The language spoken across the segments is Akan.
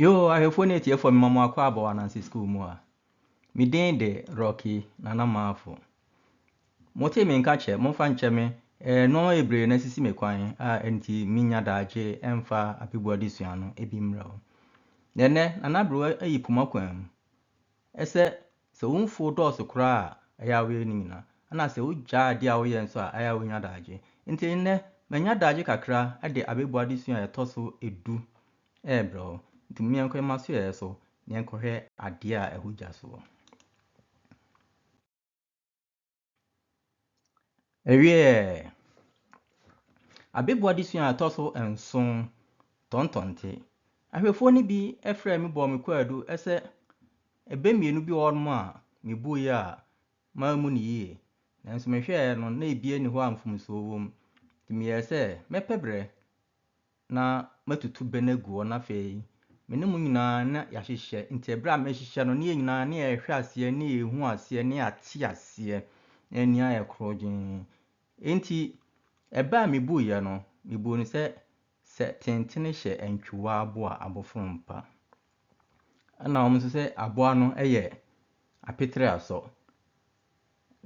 Yoo, ahwɛfoɔ ne atiefoɔ mema mo akɔ abɔ ananse sukuu mu a. Me din de Rocky Nana Maafo. Mote me nka kyɛ, momfa nkyɛ me eh, nneɛma bebree na asisi me kwan a ɛnti menya daagye ɛmfa abebu adesua no ebi mmerɛ o. Na ɛnɛ, Nana Aberewa ayi poma kwan mu. Ɛsɛ sɛ wo mfuw dɔɔso koraa a ɛyɛ a woyɛ no nyinaa, ɛnna sɛ wugyaa ade a woyɛ nso a ɛyɛ a wunya daagye. Enti nnɛ, manya daagye kakra de abebu adesua a ɛtɔ so du rebrɛ wo. Enti momma yɛnkɔ yɛn asoɛe so na yɛnkɔhwɛ ade a ɛho gya soɔ. Ɛwieɛ, Abeboa adesua a ɛtɔ so nson, Tɔntɔnte. Ahwɛfoɔ no bi frɛɛ me bɔɔ me kwaadu sɛ ɛbɛ mmienu bi wɔ hɔnom a mebuiɛ a mammu no yie. Nanso mehwɛɛ no na ebiara nni hɔ a mfomsoɔ wom. Nti meyɛɛ sɛ mɛpɛ berɛ na matutu bɛ no agu hɔ, na afei me ne mo nyinaa na yɛahyehyɛ. Nti ɛberɛ a mɛhyehyɛ no, ne yɛn nyinaa ne yɛhwɛ aseɛ, ne yɛhu aseɛ, ne yɛate aseɛ, na yɛn ani ayɛ korɔgyenn. Enti ɛbɛ a mebuiɛ no, mebuu no sɛ, Sɛ tentene hyɛ antwiwaa aboa abofo mpa. Ɛna wɔn nso sɛ aboa no yɛ apetere asɔ.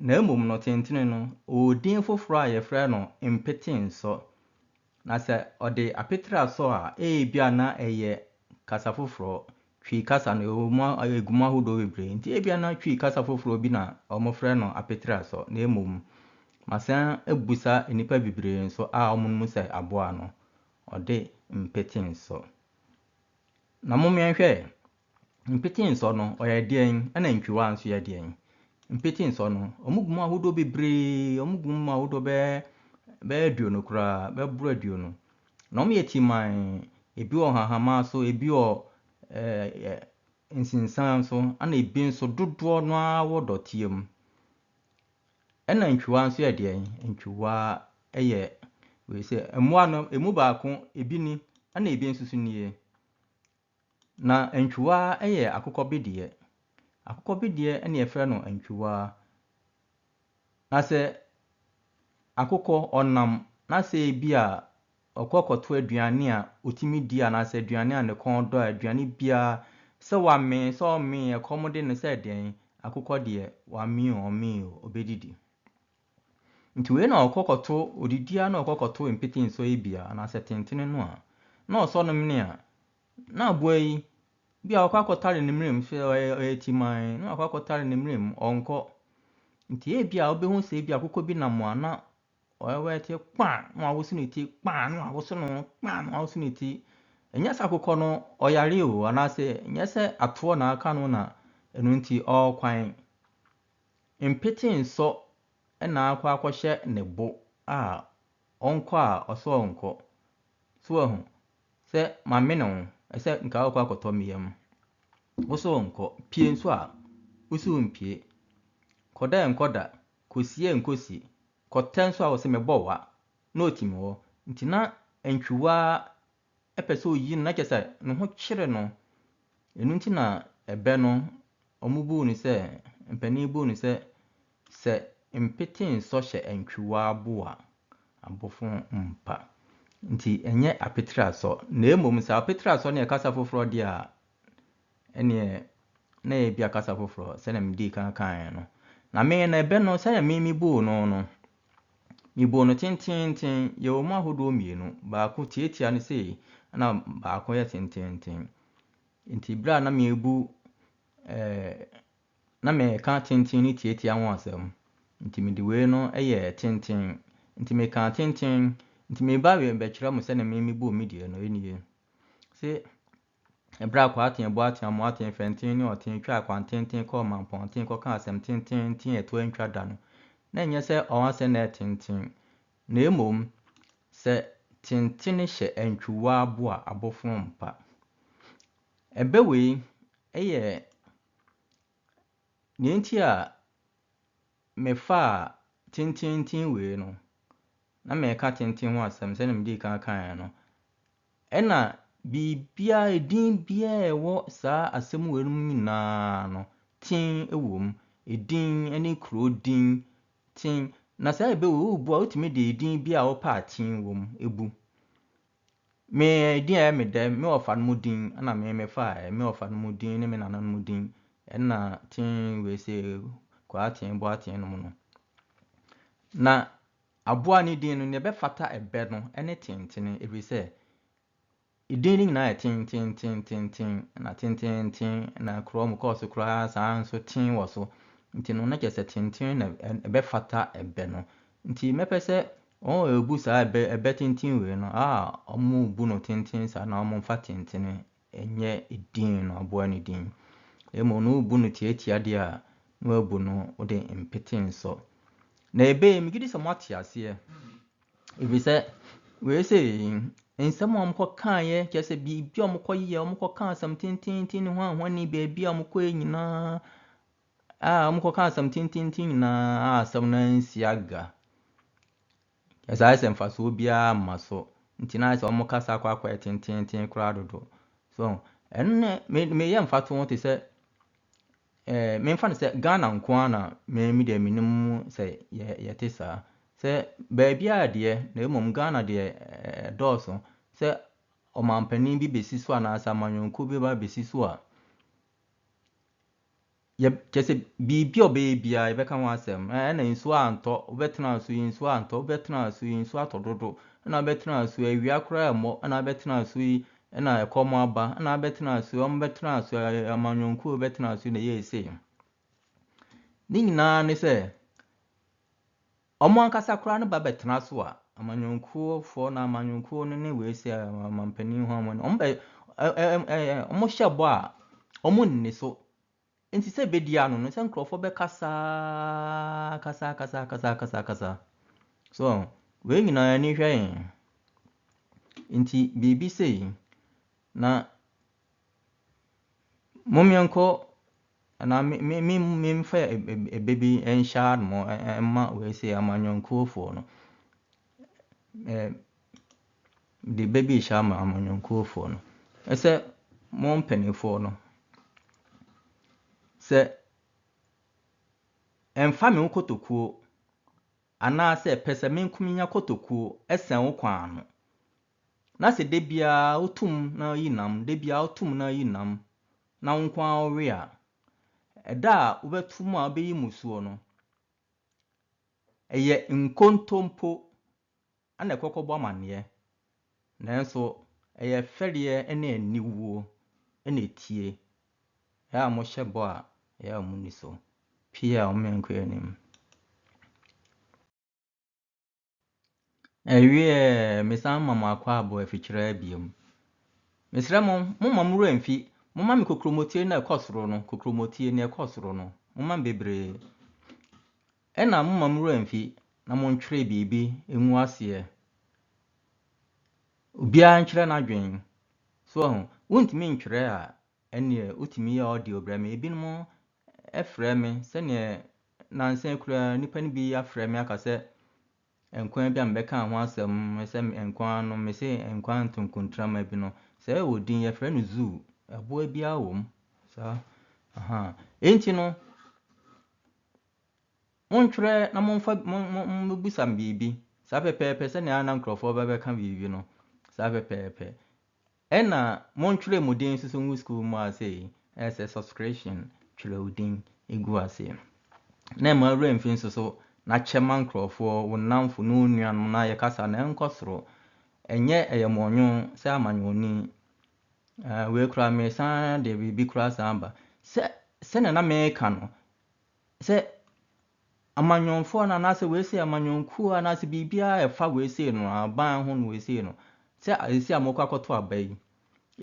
Na mmom no, tentene no, ɔwɔ din foforɔ a wɔfrɛ no Mpete-nsɔ. Na sɛ ɔde apetre asɔ a, ebia na ɛyɛ kasa foforɔ, Twi kasa no, yɛwɔ mu, ɛgu mu ahodoɔ bebree, enti ebia na Twi kasa foforɔ bi na wɔfrɛ no apetre-asɔ. Na mmom, masan abisa nnipa bebree nso a wɔnom mu sɛ aboa no, ɔde mpete-nsɔ. Na mommɛn hwɛ, Mpete nsɔ no, ɔyɛ deɛn? Ɛna ntwiwaa nso yɛ deɛn? Mpete nsɔ no, wɔgu mu ahodoɔ bebree, wɔgu mu ahodoɔ bɛɛ bɛyɛ aduonu koraa, bɛboro aduonu. Na wɔyɛ timan, ebi wɔ hahama so, ebi wɔ ɛɛ nsensan so, ɛna ebi nso dodoɔ no ara wɔ dɔteɛ mu. Ɛna ntwiwaa nso yɛ deɛn? Ntwiwaa yɛ wei sɛ mmoa no, ɛmu baako ebi ni, ɛna ebi nso so nie. Na antwiwaa yɛ akokɔ bedeɛ. Akokɔ bedeɛ na yɛfrɛ no antwiwaa. Na sɛ akokɔ ɔnam na sɛ ebi a ɔkɔ kɔto aduane a ɔtumi di anaasɛ aduane a ne kɔn dɔ a aduane biara sɛ wamee sɛ ɔmee ɛkɔm de no sɛ deɛn akokɔ deɛ wamee o ɔmee o ɔbɛdidi. Nti wei na ɔkɔ kɔto odidi a na ɔkɔ kɔto mpete nsɔ yi bia anaasɛ tentene no a na ɔsɔ no mene a na aboa yi bia ɔkɔ akɔtare ne mmerɛ mu sɛ ɔyɛ timan na wakɔ akɔtare ne mmerɛ mu ɔnkɔ nti ebia wobɛhu sɛ ebia akokɔ bi nam a na ɔyɛwɛ te kpa na wawoso ne ti kpa na wawoso no kpa na wawoso ne ti ɛnyɛ sɛ akokɔ no ɔyare o anaasɛ ɛnyɛ sɛ atoɔ na aka no na ɛno nti ɔrekwan Mpete nsɔ na akɔ akɔhyɛ ne bo a ɔnkɔ a ɔsɛ ɔnkɔ. So wahu? Sɛ mamene wo sɛ nka wokɔ akɔtɔ me yam. Wo so nkɔ. Pie nso a, wo so mpie. Kɔda a nkɔ da, kɔsie a nkɔ si. Kɔtɛ nso a ɔse mebɔ wa na ɔtim hɔ. Nti na ntwiwaa pɛ sɛ oyi no na kyerɛ sɛ ne ho kyere no. Ɛno nti na ɛbɛ no wɔbuu no sɛ, mpanin buu no sɛ, sɛ mpete nsɔ hyɛ antwiwa abo a, abofo mpa. Nti ɛnyɛ apetrasɔ na mmom sɛ apetrasɔ ne ɛkasa foforɔ deɛ a, ɛnneɛ na ɛyɛ bia kasa foforɔ sɛdeɛ medii kan kaeɛ no. Na me na ɛbɛ no sɛdeɛ me mebuu no no, mebuu no tenteenten, yɛwɔ mu ahodoɔ mmienu, baako tiatia no sei, ɛna baako yɛ tenteenten. Nti berɛ a na mebu eh, na meka tenten ne tiatia ho asɛm, nti mede wei no yɛ tenten, nti meka tenten, nti meba wei bɛkyerɛ mo sɛdeɛ me mebuu me deɛ no, ɛnie. Se Bere a Akwaa Aten, Boaten, Amoaten, Fɛnten, ne Ɔten twaa akwantenten kɔɔ Mampɔnten kɔkaa asɛm tenteenten a ɛto antwa da no, na ɛnyɛ sɛ wɔn asɛm na ɛyɛ tenten, na mmom sɛ tentene hyɛ antwiwa abo a, abofono mpa. Ɛbɛ wei yɛ nea enti a mefaa tenteenten wei no, na mereka tenten ho asɛm sɛnea medii kan kaeɛ no, Ɛna biribiara, edin biara a ɛwɔ saa asɛm wei no mu nyinaa no, tin wɔ mu. Edin ne kuro din, tin. Na saa ebe wei, wobu a, wotumi de edin bi a wopɛ a tin wɔ mu bu. Me edin a ɛyɛ me dɛ, me wɔfa no mu din na me mefaeɛ. Me wɔfa no mu din ne me nana no mu din. Ɛna tin wei sɛ Kwaaten, Boaten nom no. Na. Aboa no din no, nea ɛbɛfata ɛbɛ no ne tentene, ɛfiri sɛ edin no nyinaa yɛ tententententen, na tententen na korɔ mu kɔɔ so koraa saa ara nso ten wɔ so, nti no na kyerɛ sɛ tenten na ɛbɛfata ɛbɛ no. Nti mɛpɛ sɛ wɔn a wɔbu saa ɛbɛ ɛbɛ tenten wei no, a wɔbu no tenten saa no, na wɔmfa tentene Ɛnyɛ edin na ɔboa no din, na mmom na wobu no tiatia deɛ a, na wɔabu no wode mpete nsɔ. Na ebe yi, megye di sɛ moate aseɛ, ɛfiri sɛ wei sei, nsɛm a wɔkɔkaeɛ, kyerɛ sɛ biribi a wɔkɔyɛ, wɔkɔka asɛm tententen ne ho ahoni baabi a wɔkɔɛ nyinaa, a wɔkɔka asɛm tententen nyinaa a asɛm no ansi aga. Ɛsae sɛ mfasoɔ biara mma so nti na ayɛ sɛ wɔn kasa akɔ akɔyɛ tenteenten koraa dodo. So ɛno no me meyɛ mfato ho te sɛ eh, memfa no sɛ Ghana nko ara na me me deɛ menim sɛ yɛ yɛte saa. Sɛ baabiara deɛ na mmom Ghana deɛ eh, ɛdɔɔso sɛ ɔmampanin bi bɛsi so anaasɛ amanyɔnkuo bi ba bɛsi so a, Yɛb kyerɛ sɛ, biribi a ɔbɛyɛ biara, yɛbɛka ho asɛm. Ɛ ɛna nsuo antɔ, wobɛtena so yi, nsuo antɔ, wobɛtena so yi, nsuo atɔ dodo, ɛna wobɛtena so yi, awia koraa remmɔ, ɛna wobɛtena so yi, ɛna ɛkɔm aba, ɛna wobɛtena so yi, wɔn bɛtena so yi, ɛ amanyɔnkuo bɛtena so yi na ɛyɛɛ sei. Ne nyinaa ne sɛ, Wɔn ankasa koraa no ba bɛtena so a, amanyɔnkuofoɔ no, amanyɔnkuo no ne wei sɛ ɔmampanin ho amane, wɔn bɛ ɛ ɛ ɛ ɛ wɔn hyɛ bɔ a, wɔn nni so. Nti sɛ ɛbɛdi ano no, sɛ nkurɔfoɔ bɛkasa kasa kasa kasa kasa kasa. So wei nyinaa ani hwɛ yɛn. Nti biribi sei na Momyɛnkɔ anaa me me me memfa ɛbɛ bi nhyɛ ano mma wei sɛ amanyɔnkuofoɔ no. Mede ɛbɛ bi rehyɛ ama amanyɔnkuofoɔ no. Ɛsɛ mo mpanimfoɔ no, sɛ mfa me wo kotokuo anaasɛ pɛ sɛ me nko menya kotokuo sɛn wo kwan no. Na sɛ da biara woto mu na woyi nam, da biara woto mu na woyi nam, na wo nko ara wowe a, ɛda a wobɛto mu a wobɛyi mu soɔ no, ɛyɛ nkontompo na ɛkɔkɔbɔ amanneɛ, nanso ɛyɛ fɛreɛ ne aniwuo na ɛtie. Ɛyɛ a mohyɛ bɔ a, ɛyɛ a monni so. Pii a wɔn yɛn nkɔ anim. Ɛwieɛ mesan ma mo akwaabo afikyire abiem. Mesrɛ mo, momma mo werɛ mfi, momma me kokromotire no a ɛkɔ soro no, kokromotire no a ɛkɔ soro no, momma me bebree. Ɛna momma mo werɛ mfi na montwerɛ biribi ngu aseɛ. Obiara nkyerɛ n'adwene. So ahu, wontumi ntwerɛ a, ɛnneɛ wotumi yɛ audio brɛ me. Ebinom frɛ me sɛdeɛ nnansa yi koraa nnipa no bi afrɛ me aka sɛ nkwa bi a mebɛkaa ho asɛm sɛ nkwa no mese nkwa ntonkontrama bi no sɛ ɛwɔ din yɛfrɛ no zoo ɛboa biara wɔ mu saa aha enti no montwerɛ na momfa mobusa biribi saa pɛpɛɛpɛ sɛnea na nkurɔfoɔ bɛbɛka biribi no saa pɛpɛɛpɛ Ɛna mo ntwerɛ mo din nso so ngu sukuu mu a sei ɛsɛ subscription twerɛ wo din gu aseɛ no na ɛma wura mfi nso so na kyɛ ma nkurɔfoɔ wo nnamfo ne wo nuanom na yɛ kasa na ɛnkɔ soro ɛnyɛ ɛyɛ mɔnwo sɛ amanyɔni wei koraa mesan de biribi koraa san ba sɛ sɛnea na meka no Sɛ amanyɔnfoɔ no anaasɛ wei sei amanyɔnkuo anaasɛ biribiara a ɛfa wei sei no aban ho no wei sei no sɛ ɛsi a mokɔ akɔto aba yi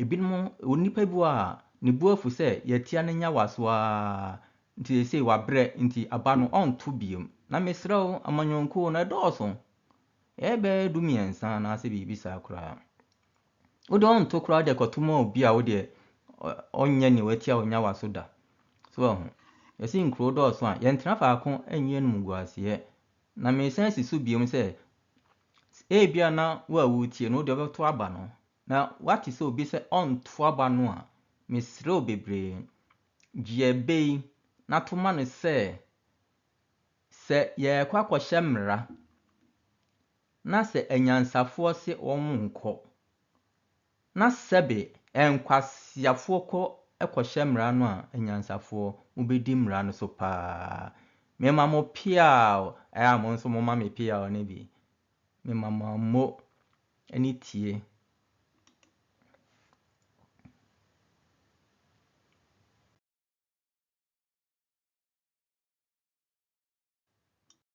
ebinom onipa bi wɔ a ne bu afu sɛ yɛtia no nya waso ara nti sɛ sei wabrɛ nti aba no ɔnto biom na mesrɛ wo amanyɔnkuo no ɛdɔɔso ɛyɛ bɛyɛ du mmiɛnsa anaasɛ biribi saa koraa Wo deɛ ɔnto koraa wode kɔto ma obi a wo deɛ ɔnyɛ nea watia wo nyawa so da. So wahu? Yɛse nkuro dɔɔso a, yɛntena faako nyi animguaseɛ. Na meresan si so biom sɛ, ebia na wo a woretie no wo deɛ wobɛto aba no, na woate sɛ obi sɛ ɔnto aba no a, mesrɛ wo bebree, gye ɛbɛ yi na to ma no sɛ, Sɛ yɛrekɔ akɔhyɛ mmara, na sɛ anyansafoɔ se wɔnnkɔ, na sɛbe nkwaseafoɔ kɔ kɔhyɛ mmara no a, anyansafoɔ, mobɛdi mmara no so pa ara. Mema mo peaw, ɛyɛ a mo nso momma me peaw no bi. Mema mo ammo ne tie.